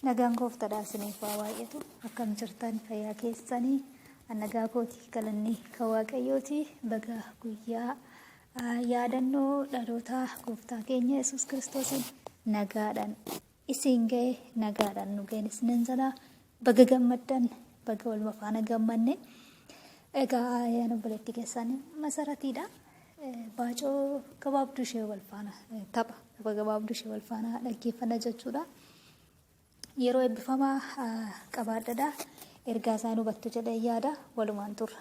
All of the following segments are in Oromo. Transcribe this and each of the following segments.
Nagaan gooftaadhaa isiniif haa baay'atu. Akkam jirtan fayyaa keessanii nagaa kooti galanni kan waaqayyooti baga guyyaa ah, yaadannoo dhaloota gooftaa keenya Yesuus Kiristoosiin nagaadhaan isin ga'e nagaadhaan nu ga'e isinin jala Baga gammaddan baga waluma faana gammanne egaa ayaan obboleettii keessaan masaratiidha baacoo gabaabduu ishee wal faana tapha tapha gabaabduu ishee wal faana dhaggeeffanna jechuudha yeroo eebbifamaa qabaadhadha ergaa isaan hubattu jedhee yaada walumaan turra.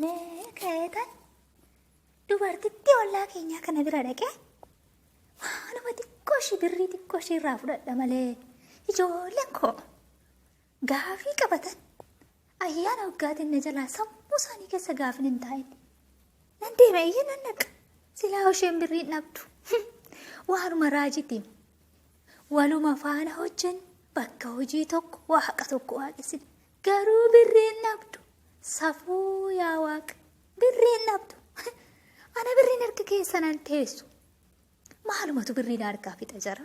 Mee ka'eetan dubartittii ollaa keenyaa kana bira dhaqee waanuma xiqqoo ishii birrii xiqqoo ishii irraa fudhadha malee ijoolleen koo gaafii qabatan ayyaana waggaatiin na jalaa sammuu isaanii keessa gaafin hin taa'in. Nan deema iyyuu nan dhaqa. Silaa isheen birrii hin dhabdu. Waanuma raajitiin Waluma faana hojjenna, bakka hojii tokko, Waaqa tokko waaqessina. Garuu birrii hin dhabdu. Safuu yaa Waaqa, birrii hin dhabdu. Ana birriin harka keessa nan teessu. Maalumatu birrii na harkaa fixa jara?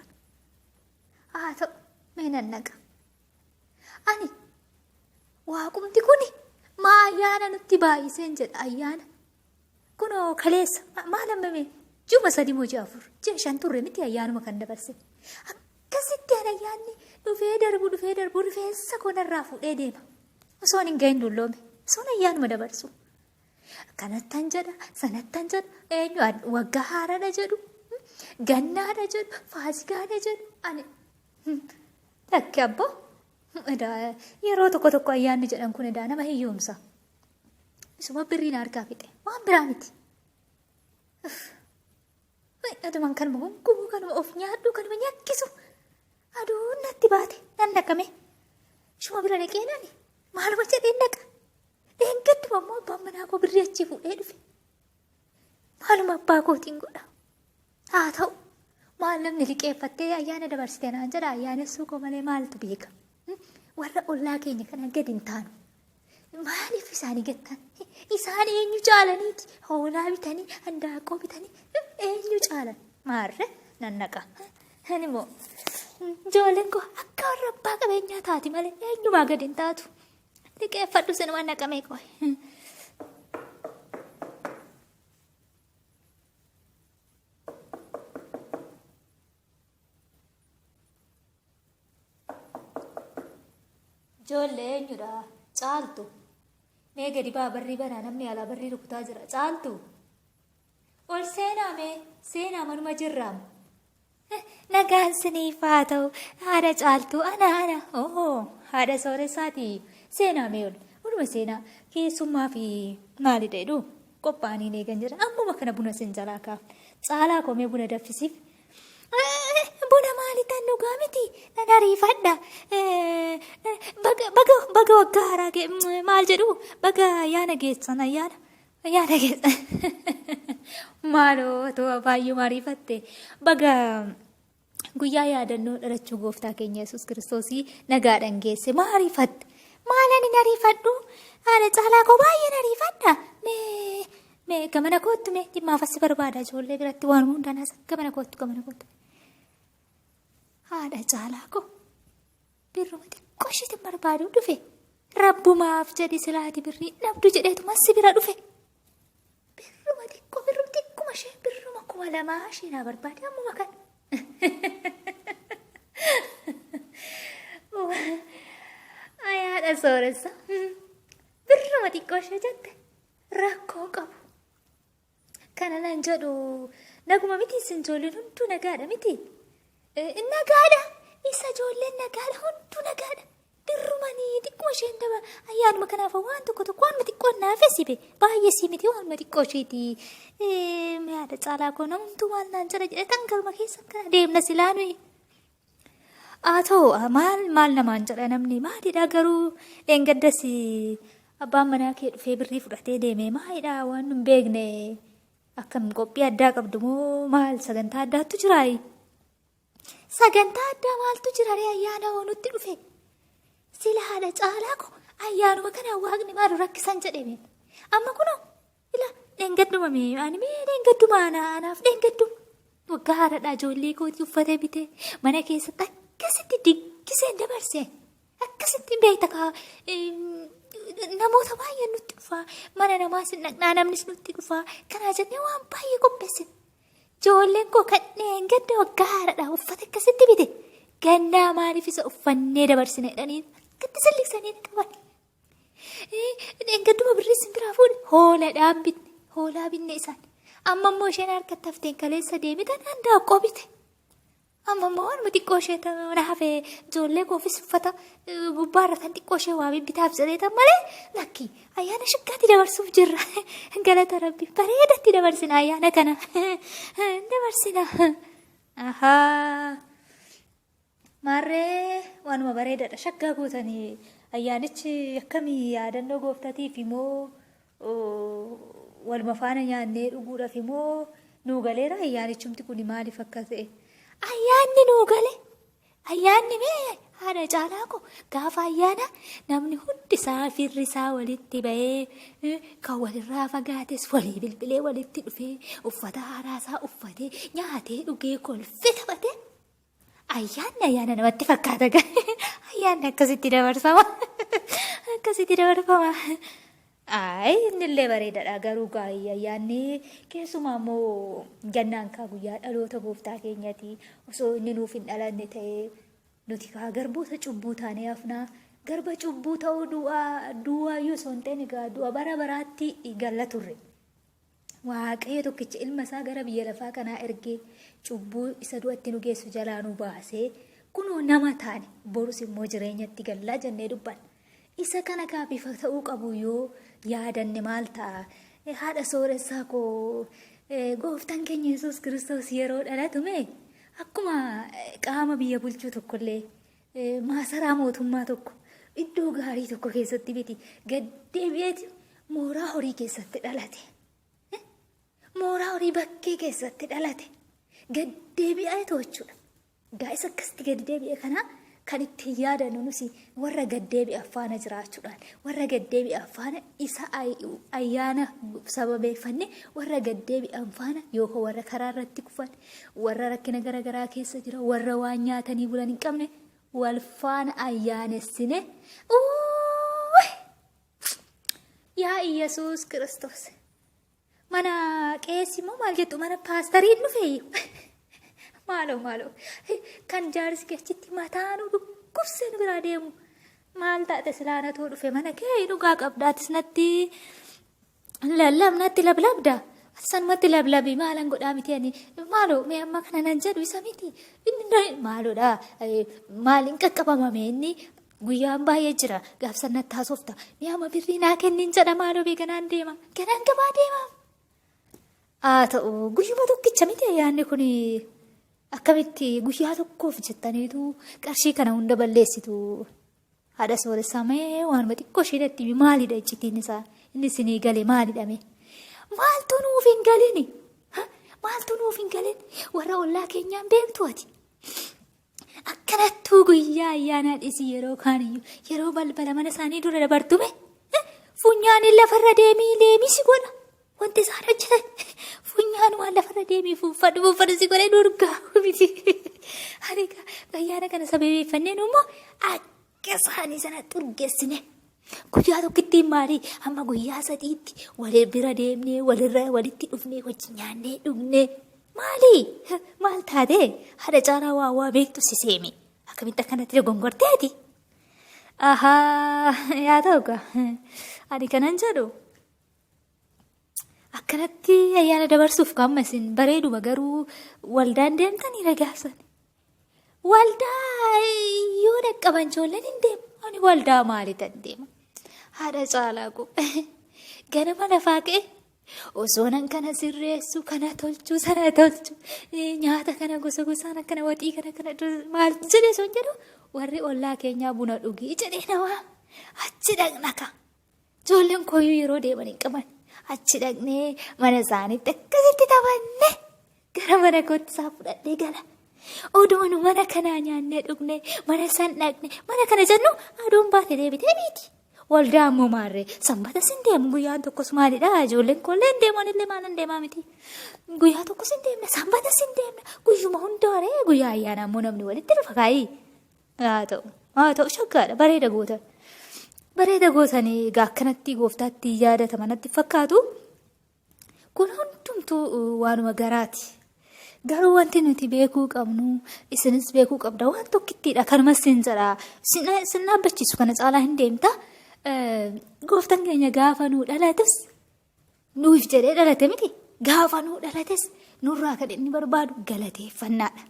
Haa ta'u, mee nan naqa. Ani waaqumti kuni maa ayyaana nutti baay'iseen jedha ayyaana. Kunoo kaleessa ma- maal hammame juma sadi moo ji'a afur ji'a shan turre miti ayyaanuma kan dabarse akkasitti an ayyaanni dhufee darbu dhufee darbu rifeensa koo narraa fuudhee deema osoon hin gahin dulloome osoon ayyaanuma dabarsu kanattan jedha sanattan jedha eenyu ad- waggaa haaraadha jedhu hmm, gannaadha jedhu faasigaadha jedhu ani hmm, lakki abboo hmm, edaa yeroo tokko tokko ayyaanni jedhan kun edaa nama hiyyoomsa Isuma birrii na harkaa fixe. Waan biraa miti. Uff. Way, Adumaan kanuma gungumuu kanuma of nyaadhu kanuma nyakkisu. Aduun natti baate nan dhaqame. Ishuma bira dhaqee nani maaluma jedheen dhaqa. Dheengadduma immoo abbaan manaa koo birrii achii fuudhee dhufe. Maaluma abbaa kootiin godha. Haa ta'u maal namni liqeeffattee ayyaana dabarsite naan jedha ayyaanessuu koo malee maaltu beeka warra ollaa keenya kana gadi hin taanu. Maaliif isaanii gattan? Isaan eenyu caalaniiti? Hoolaa bitanii, handaaqqoo bitanii eenyu caalan? Maarre nan naqa. Ani immoo ijoolleen koo akka warra abbaa qabeenyaa taati malee eenyumaa gadi hin taatu. Liqeeffadhu sinuma naqamee qoy. Ijoollee eenyudha? Caaltu. Mee gadi baa barrii banaa namni alaa barrii rukutaa jira. Caaltu. Ol seenaa mee seenaa manuma jirraam. Nagaan siniif haa ta'u haadha caaltuu ana ana ohoo haadha sooressaati seenaa mee ol oluma seenaa keessummaa fi maalidha jedhu qophaa'anii eegan jira ammuma kana buna sin jalaa kaa caalaa komee buna daffisiif buna maali tan dhugaa miti nan ariifadha baga baga baga waggaa haaraa maal jedhu baga yaana geessan ayyaana Yaada keessa maaloo otoo baay'ee maariifatte baga guyyaa yaadannoo dhalachuu gooftaa keenya yesus kiristoosii nagaadhaan geesse maariifatte maalan hin ariifadhu haala caalaa koo baay'een ariifadha mee mee gamana koottu mee dhimmaaf assi barbaada ijoollee biratti waan hundaan as gamana koottu gamana koottu haadha caalaa koo. Birruma xiqqoo ishiitiin barbaaduu dhufe. Rabbumaaf jedhi silaati birrii hin dhabdu jedheetuma si bira dhufe. Birruma xiqqoo birruma xiqquma ishee birruma kuma lamaa ishee naa barbaade ammuma kan. Ayaadha sooressa. Birruma xiqqoo ishee jette rakkoon qabu. Kana nan jedhu naguma miti isin ijoolleen hunduu nagaadha miti. Nagaadha isa ijoolleen nagaadha hunduu nagaadha. Dirrumanii xiqqoo isheen daba ayyaanuma kanaaf waan tokko tokko waanuma xiqqoo naaf sibe baay'ee sii miti waanuma xiqqoo isheeti. Yaada caalaa koo namumtuu maal naan jedha jedhe tan galma keessa kana deemna silaa nuyi. Haa ta'u maal maal namaan jedha namni maalidha garuu dheengaddas abbaan manaa kee dhufee birrii fudhatee deeme maalidha waan hin beekne akkam qophii addaa qabdu moo maal sagantaa addaattu jiraayi. Sagantaa addaa maaltu jira ree ayyaana hoo nutti dhufe sila haadha caalaa ko ayyaanuma kana waaqni maalu rakkisan jedheme amma kunoo Ila dheengadduma mee ani mee dheengadduma ana anaaf dheengadduma. Waggaa haadha ijoollee kootii uffata bitee mana keessatti akkasitti diggiseen dabarse. Akkasitti beekta kaa namoota baay'een nutti dhufaa mana namaas hin dhaqnaa namnis nutti dhufaa kanaa jennee waan baay'ee qopheessin. Ijoolleen koo kan dheengadda waggaa haadha uffata akkasitti bite gannaa maaliif isa uffannee dabarsine jedhanii akkatti sallisanii qaban. Dheengadduma birrii isin biraa fuune hooladhaan bitne hoolaa binne isaan amma immoo isheen harka tafteen kaleessa deemite danda'a qobite. Amma immoo waanuma xiqqoo ishee na hafe ijoollee koofis uffata gubbaa irra tan xiqqoo ishee waa bibbitaaf jedheetan malee lakki ayyaana shaggaatti dabarsuuf jirra. Galata rabbi bareedatti dabarsina ayyaana kana dabarsina. Ahaa. Maarree waanuma bareedadha shaggaa gootanii ayyaanichi akkamii yaadannoo gooftatiif imoo waluma faana nyaannee dhuguudhaaf imoo nuu galeera ayyaanichumti kun maaliif akka ta'e. Ayyaanni nuu gale ayyaanni mee haadha caalaa koo gaafa ayyaana namni hundi isaa firri isaa walitti bahee kan walirraa fagaates walii bilbilee walitti dhufee uffata haaraa isaa uffatee nyaatee dhugee kolfee taphatee. Ayyaanni ayyaana namatti fakkaata gari. Ayyaanni akkasitti dabarsama. Akkasitti dabarfama. Ayi innillee bareedadha garuu gaa'ii ayyaanni keessumaa immoo gannaan kaa guyyaa dhaloota gooftaa keenyati osoo inni nuuf hin dhalanne ta'ee nuti kaa garboota cubbuu taanee hafnaa garba cubbuu ta'uu du'aa du'aa yoo osoo hin ta'in egaa du'a bara baraatti galla turre. Waaqayyo tokkicha ilma isaa gara biyya lafaa kanaa ergee cubbuu isa du'atti nu geessu jalaa nu baasee kunoo nama taane borus immoo jireenyatti gallaa jennee dubbanna. Isa kana kaa bifa ta'uu qabu yoo yaadanne maal ta'a? Eh, Haadha sooressaa koo eh, gooftaan keenya Yesuus Kiristoos yeroo dhalatu mee akkuma eh, qaama biyya bulchuu tokkollee Maasaraa mootummaa tokko iddoo gaarii tokko keessatti miti gad deebi'eeti mooraa horii keessatti dhalate. Mooraa horii bakkee keessatti dhalate gad deebi'ee toochuudha. Gaa'isa akkasitti gad deebi'e kana kan ittiin yaadannu nusi warra gad deebi'an faana jiraachuudhaan warra gad deebi'an faana isa ayyaana sababeeffanne warra gad deebi'an faana yookaan warra karaa irratti kufan warra rakkina gara garaa keessa jira warra waan nyaatanii bulan hin qabne wal faana ayyaanessine Uuuy! yaa iyyasuus kiristoos mana qeessi immoo maal jettu mana paastarii hin dhufeeyyu maaloo maaloo kan jaarsi kechitti mataa nu dhukkubsee nu biraa deemu maal taate silaanatoo dhufe mana kee dhugaa qabdaatis natti Lallaab natti lablabda. Ati sanumatti lablabi maalan godhaa miti ani maaloo mee amma kana nan jedhu isa miti inni na- maaloodha eh, maal hin qaqqabamame inni guyyaan baay'ee jira gaafsan natti haasofta mee amma birrii naa kennin jedha maaloo bee ganaan deema ganaan gabaa deema. Haa ta'u guyyuma tokkicha miti ayyaanni kun akkamitti guyyaa tokkoof jettaniitu qarshii kana hunda balleessitu Haadha sooressaa mee waanuma xiqqoo ishee natti himi maalidha iccitiin isaa inni isinii gale maalidha mee maaltu nuuf hin galini Ha? maaltu nuuf hin galin warra ollaa keenyaan beektu ati akkanattuu guyyaa ayyaanaa dhisii yeroo kaaniyyuu yeroo balbala mana isaanii dura dabartume funyaan lafarra deemii leemisi godha Wanti isaan hojjetan funyaan waan lafarra deemee fuunfadhu fuunfadhu si godhee durgaa miti. Ani egaa bayyaana kana sababeeffannee nu immoo akka isaanii sana xurgeessine. Guyyaa tokkittiin maalii amma guyyaa sadiitti wal bira deemnee walirra walitti dhufnee wajji nyaannee dhugnee. Maalii maal taatee haadha caalaa waa waa beektu si seemi. Akkamitti akkanatti dogongorteeti? Ahaa yaa ta'u egaa ani kanan jedhu Akkanatti ayyaana dabarsuuf qaama isin bareeduma garuu waldaan deemtanii ragaafsan. Waldaa yoo dhaqqaban ijoolleen hin deemu. Ani waldaa maaliitan deema? Haadha caalaa koo ganama lafaa ka'e osoo nan kana sirreessu kana tolchu sana tolchu nyaata kana gosa gosaan akkana waxii kana kana maal jedhee sun jedhu warri ollaa keenyaa buna dhugii jedhee namaa achi dhaqna ka'a. Ijoolleen kooyyuu yeroo deeman hin qaban. Achi dhaqnee mana isaaniitti akkasitti taphanne gara mana kootti isaa fudhadhee gala. Odoon mana kanaa nyaannee dhugne mana san dhaqne mana kana jennu aduun baate deebitee biiti. Waldaa ammoo maarree sanbata sin deemu guyyaan tokkos maalidha ijoolleen koollee hin deeman illee maal hin deemaa miti. Guyyaa tokkos hin deemne sanbata sin deemne guyyuma hundaaree guyyaa ayyaana ammoo namni walitti dhufa kaayii. Haa ta'u. Haa ta'u shaggaadha. Bareeda gootan. Bareeda gootan egaa akkanatti gooftaatti yaadatama natti fakkaatu. Kun hundumtuu waanuma garaati. Garuu wanti nuti beekuu qabnu isinis beekuu qabda waan tokkittiidha kanumas sin jedha sin dhaabbachiisu kana caalaa hin deemta. Gooftan keenya gaafa nuu dhalates nuuf jedhee dhalate miti gaafa nuu dhalates nurraa kan inni barbaadu galateeffannaadha.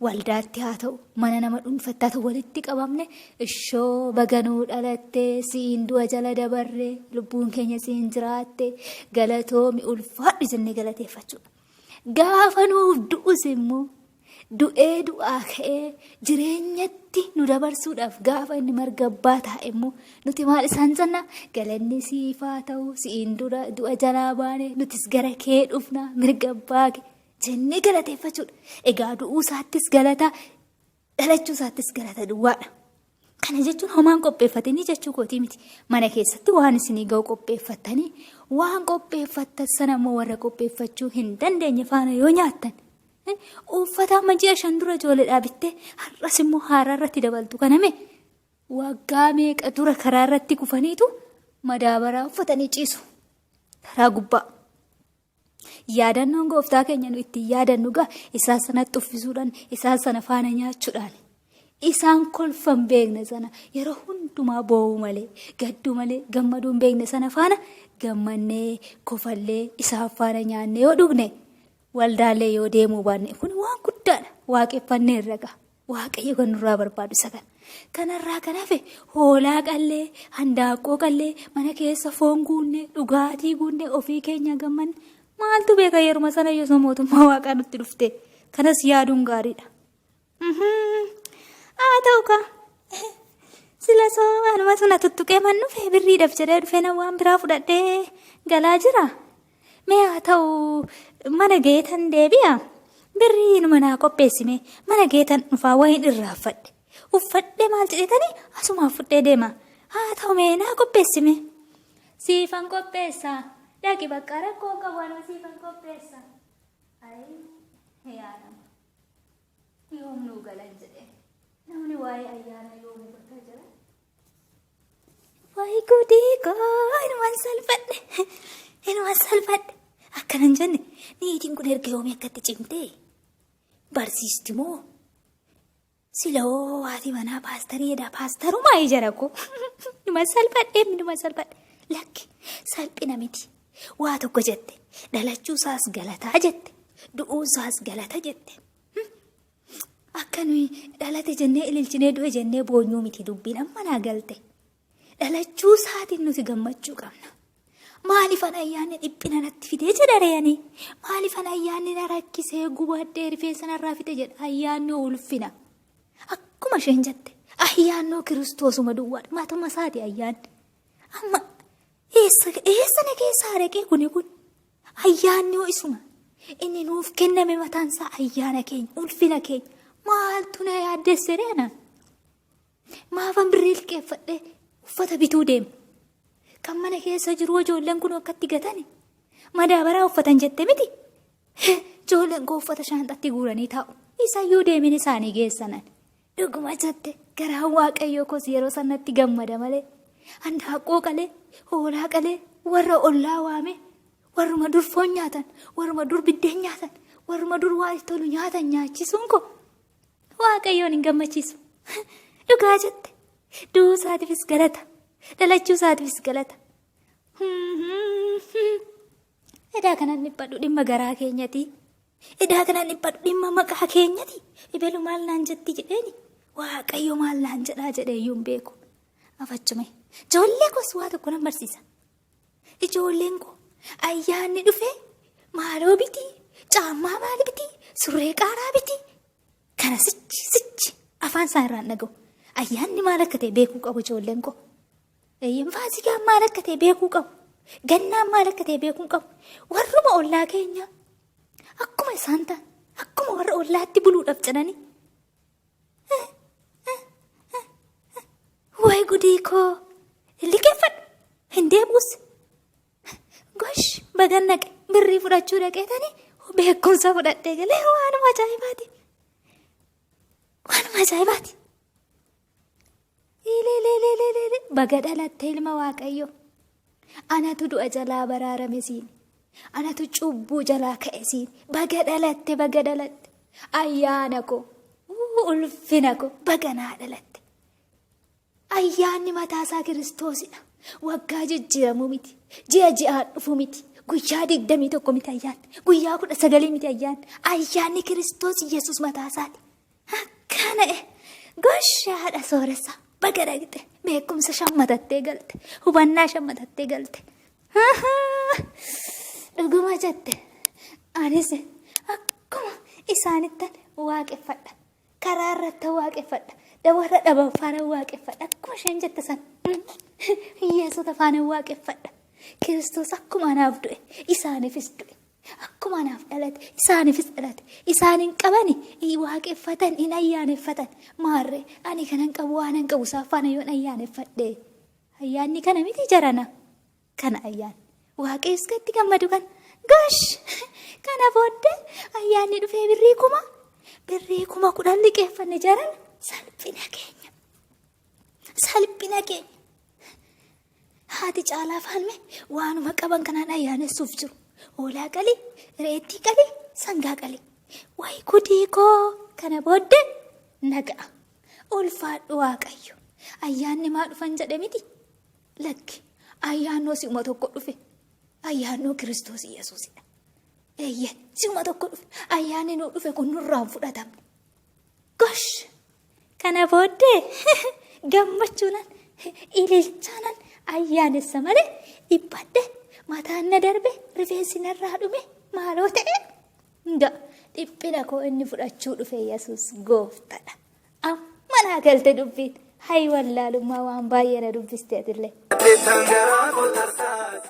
waldaatti haa ta'u mana nama dhuunfatti haa ta'u walitti qabamne ishoo baga nuu dhalatte siin du'a jala dabarre lubbuun keenya siin jiraatte galatoomi ulfaadhu jennee galateeffachuudha. Gaafa nuuf du'us immoo du'ee du'aa ka'ee jireenyatti nu dabarsuudhaaf gaafa inni marga abbaa taa'e immoo nuti maal isaan jenna galanni siifaa ta'u siin dura du'a jalaa baane nutis gara kee dhufna mirga abbaa kee jennee galateeffachuudha. Egaa du'uu isaattis galata, dhalachuu isaattis galata duwwaadha. Kana jechuun homaan qopheeffatanii jechuu kootii miti. Mana keessatti waan isinii ga'u qopheeffattanii waan qopheeffattan sana immoo warra qopheeffachuu hin dandeenye faana yoo nyaattan. eh, Uffata amma ji'a shan dura ijoolleedhaa bittee har'as immoo haaraa irratti dabaltu kaname waggaa meeqa dura karaa irratti kufaniitu madaabaraa uffatanii ciisu. Karaa gubbaa. Yaadannoon gooftaa keenya nu ittiin yaadannu gaa isaa sanatti uffisuudhaan isaa sana faana nyaachuudhaan isaan kolfan beekne sana yeroo hundumaa boo'uu malee gadduu malee gammaduu hin beekne sana faana gammannee kofallee isaan faana nyaannee yoo dhugne waldaalee yoo deemuu baanne kun waan guddaadha waaqeffannee irra ga'a. Waaqayyo kan nurraa barbaadu isa kana. Kanarraa kan hafe hoolaa qallee, handaaqqoo qallee, mana keessa foon guunnee, dhugaatii guunnee, ofii keenya gammanne. Maaltu beeka yeruma sana yosoo mootummaa waaqaa nutti dhufte. Kanas yaaduun gaariidha. Haa ta'u kaa. Sila soo anumatu na tuttuqee man dhufe birriidhaaf jedhee dhufe na waan biraa fudhadhee galaa jira. Mee haa ta'u mana geetan deebi'a. Birrii inuma naa qopheessime mana geetan dhufaa wayiin irraa uffadhe. Uffadhee maal jedhetanii asumaa fudhee deema. Haa ta'u mee naa qopheessime. Siifan qopheessa. Dhaqi bakka rakkoon qabu anuma siifan qopheessa. Ayii yaa nama. Yoom nuu galan jedhee. Namni waa'ee ayyaana yoo hubata jira. Wayi gudii koo inuman salphadhe inuman salphadhe akkana hin jenne niitiin kun erga yoomii akkatti cimte barsiisti moo siloo haati manaa paastarii jedha paastarumaa ijara koo inuman salphadhe inuman salphadhe lakki salphina miti waa tokko jette dhalachuu isaas galataa jette du'uu isaas galata jette Akka nuyi dhalate jennee ililchinee du'e jennee boonyuu miti dubbiin amma naa galte. Dhalachuu isaatiin nuti gammachuu qabna. Maaliif an ayyaanni dhiphina natti fidee jedha reeyani. Maaliif an ayyaanni na rakkisee gubadhee rifeensa narraa fixe jedha ayyaannoo ulfina. Akkuma isheen jette ayyaannoo kiristoosuma duwwaadha matuma isaati ayyaanni. Amma eessa eessa na keessaa dhaqee kuni kun. Ayyaanni hoo isuma. Inni nuuf kenname mataan isaa ayyaana keenya, ulfina keenya. Maaltu na yaaddesse ree anaan? Maafan birrii liqeeffadhee uffata bituu deema? Kan mana keessa jiru ijoolleen kun akkatti gatani? Madaabaraa uffatan jette miti? Ijoolleen koo uffata shaanxatti guuranii taa'u. Isayyuu deemin isaanii geessanan. Dhuguma jette garaan waaqayyoo koos yeroo sanatti gammada malee handaaqqoo qalee hoolaa qalee warra ollaa waame warruma dur foon nyaatan warruma dur biddeen nyaatan warruma dur waa itti tolu nyaatan nyaachisuun koo waaqayyoon hin gammachiisu dhugaa jette du'uu isaatiifis galata dhalachuu isaatiifis galata. Edaa kanan dhiphadhu dhimma garaa keenyati Edaa kanaan dhiphadhu dhimma maqaa keenyati ibelu maal naan jetti jedheeni waaqayyo maal naan jedhaa jedhee iyyuu hin beeku. Afachume ijoollee koos waa tokko nan barsiisa. Ijoolleen koo ayyaanni dhufee maaloo biti caammaa maali biti surree qaaraa biti kana sichi sichi afaan isaa irraan dhaga'u ayyaanni maal akka ta'e beekuu qabu ijoolleen koo. Eeyyeen faasikaan maal akka ta'e beekuu qabu. Gannaan maal akka ta'e beekuu qabu. Warruma ollaa keenyaa akkuma isaan ta'an akkuma warra ollaatti buluudhaaf jedhanii. Wayi gudii koo liqeeffadhu hin deebi'us. Gosh bagan dhaqe birrii fudhachuu dhaqeetanii beekumsa fudhadhee galee waanuma ajaa'ibaati. Waanuma ajaa'ibaati. Ilililililili baga dhalatte ilma waaqayyo. Anatu du'a jalaa baraarame siin. Anatu cubbuu jalaa ka'e siin. Baga dhalatte baga dhalatte. Ayyaana koo. Uu, Ulfina koo baga naa dhalatte. Ayyaanni mataasaa kiristoosidha. Waggaa jijjiiramuu miti. Ji'a ji'aan dhufuu miti. Guyyaa digdamii tokko miti ayyaanni. Guyyaa kudha sagalii miti ayyaanni. Ayyaanni kiristoos Yesuus mataasaati. Akkana e gosh haadha sooressa baga dhaqxe beekumsa shammatattee galte hubannaa shammatattee galte. Dhuguma jette anis akkuma isaanittan waaqeffadha karaa irratti waaqeffadha dabarra dhaban faana waaqeffadha akkuma isheen jette san hiyyeessota faana waaqeffadha kiristoos akkuma anaaf du'e isaaniifis du'e Akkuma anaaf dhalate isaaniifis dhalate. Isaan hin qabani hin waaqeffatan hin ayyaaneffatan. Maarree ani kanan qabu waanan qabu isaan faana yoon ayyaaneffadhe. Ayyaanni kana miti jarana. Kana ayyaan. Waaqayyos kan itti gammadu kana. Gosh! Kana booddee ayyaanni dhufee birrii kuma birrii kuma kudhan liqeeffanne jarana salphina keenya. Salphina keenya. Haati Caalaa Faalme waanuma qaban kanaan ayyaanessuuf jiru. Hoolaa qali, reettii qali, sangaa qali. Wayi gudii koo kana booddee naga'a. Ulfaadhu Waaqayyo. Ayyaanni maa dhufan jedhe miti? Lakki ayyaannoo si'uma tokko dhufe. Ayyaannoo Kiristoos Yesuusidha. Eeyyee si'uma tokko dhufe. Ayyaanni nuu dhufe kun nurraan fudhatamne. Gosh! Kana booddee gammachuunan ililchaanan ayyaanessa malee dhiphadhe mataan na darbe rifeensi narraa dhume maaloo ta'e nga dhiphina koo inni fudhachuu dhufe yesus gooftadha amma naa galte dubbiin hayi wallaalummaa waan baay'ee na dubbiste atillee. Jettan garaa koo tarsaase.